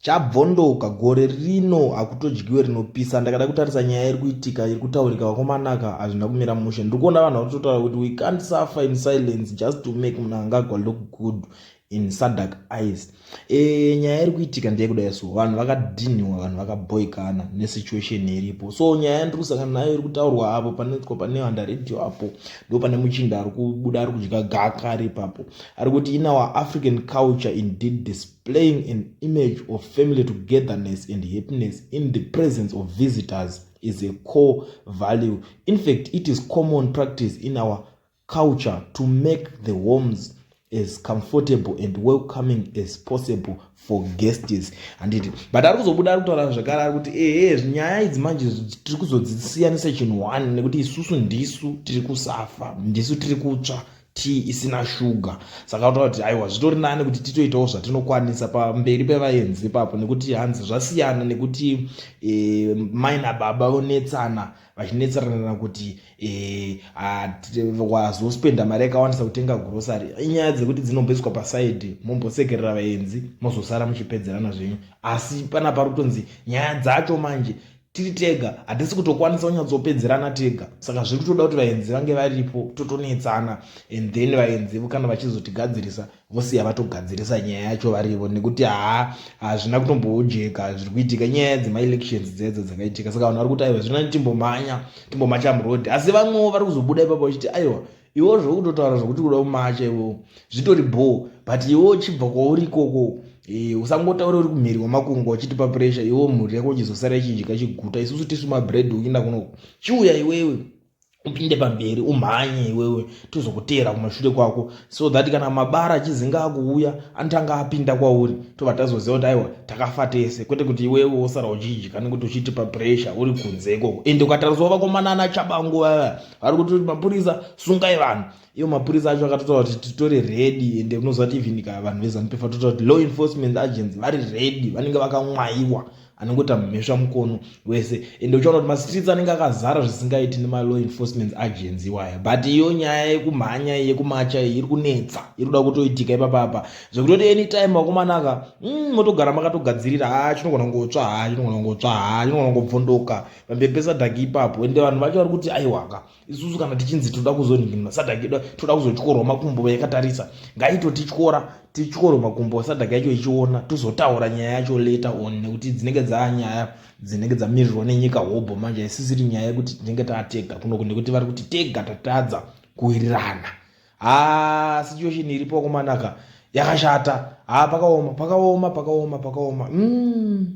Chabvondoka gore rino hakutodyiwe rinopisa ndakada kutarisa nyaya iri kuitika iri kutaurika vakomanaka hazvina kumira mushe ndiri kuona vanhu vakutotaura kuti we can't suffer in silence just to make munangagwa look good in sadak eyes e, nyaya iri kuitika ndeyekudai so vanhu vakadhinhiwa vanhu vakaboikana nesituation iripo so nyaya yandiri kusangana nayo iri kutaurwa apo panoitwa pane vandaredio apo ndo pane muchinda ari kubuda ari kudya gaka ari ipapo ari kuti in our african culture indeed displaying an image of family togetherness and happiness in the presence of visitors is a core value in fact it is common practice in our culture to make the homes as comfortable and welcoming as possible for guests handiti but ari kuzobuda ari kutaura zvakare ari kuti ehe nyaya idzi manje tiri kuzodzisiyanisa chinhu one nekuti isusu ndisu tiri kusafa ndisu tiri kutsva tea isina shuga saka kutaura kuti aiwa zvitori nani kuti titoitawo zvatinokwanisa pamberi pevaenzi ipapo nekuti hanzi zvasiyana nekuti e, mai nababa vonetsana vachinetserana kuti e, wazospenda mari yakawandisa kutenga grosary inyaya dzekuti dzinobeswa pasaidi mombosekerera vaenzi mozosara muchipedzerana zvenyu asi pana parutonzi nyaya dzacho manje tiri tega hatisi kutokwanisa kunyatsopedzerana tega saka zviri kutoda kuti vaenzi vange varipo totonetsana and then vaenzi kana vachizotigadzirisa vosiya vatogadzirisa nyaya yacho varivo nekuti haa hazvina kutomboojeka zviri kuitika nyaya dzemaelections dzedzo dzakaitika saka vanhu vari kuti aiwa zvino timbomhanya timbomacha muroad asi vamwewo vari kuzobuda ipapo vachiti aiwa iwo zvokutotaura zvokuti kuda kumacha iwo zvitori bhoo but iwo uchibva kwauri ikoko eh, usangotaura uri kumhiri kwamakungwa uchitipa puresha iwo mhuri yako uchizosara ichinjika chiguta isusu tisu mabread uchiinda kuno chiuya iwewe upinde pamberi umhanye iwewe tozokuteera kumashure kwako so that kana mabara achizinga akuuya anotanga apinda kwauri tobva tazoziva kuti aiwa takafa tese kwete kuti iwewe wosara uchidya nekuti uchitipa puresha uri kunze ikoko ende ukatariswa vakomanana chabangu vava vari kuti mapurisa sungai vanhu ivo mapurisa acho akatotaura kuti titore redi ende unoziva kuti even ka vanhu vezanup vatotaura kuti law enforcement agents vari redi vanenge vakamwayiwa anongota mhesva mukono wese ende uchiona kuti mastreets anenge akazara zvisingaiti nemalaw enforcement agents iwaya but iyo nyaya yekumhanya yekumacha iyi iri kunetsa iri kuda kutoitika ipapapa zvekutoti anytime vakomanaka mm, motogara makatogadzirira ha ah, chinogona kungotsva ha ah, chinogona kungotsva ha ah, chinogona kungobvondoka vambembe sadhaki ipapo ende vanhu vacho vari kuti aiwaka isusu kana tichinzi toda kuzoninginwa sadhaki toda kuzotyorwa makumbo vayakatarisa ngaitotityora tityore makumbo sadhaki yacho ichiona tozotaura nyaya yacho later on nekuti dzinenge dzaa nyaya dzinenge dzamirirwa nenyika hobho manje haisisiri nyaya yekuti tinenge taatega kunoku nekuti vari kuti tega tatadza kuwirirana ha situation iripo kumanaka yakashata ha pakaoma pakaoma pakaoma pakaoma mm.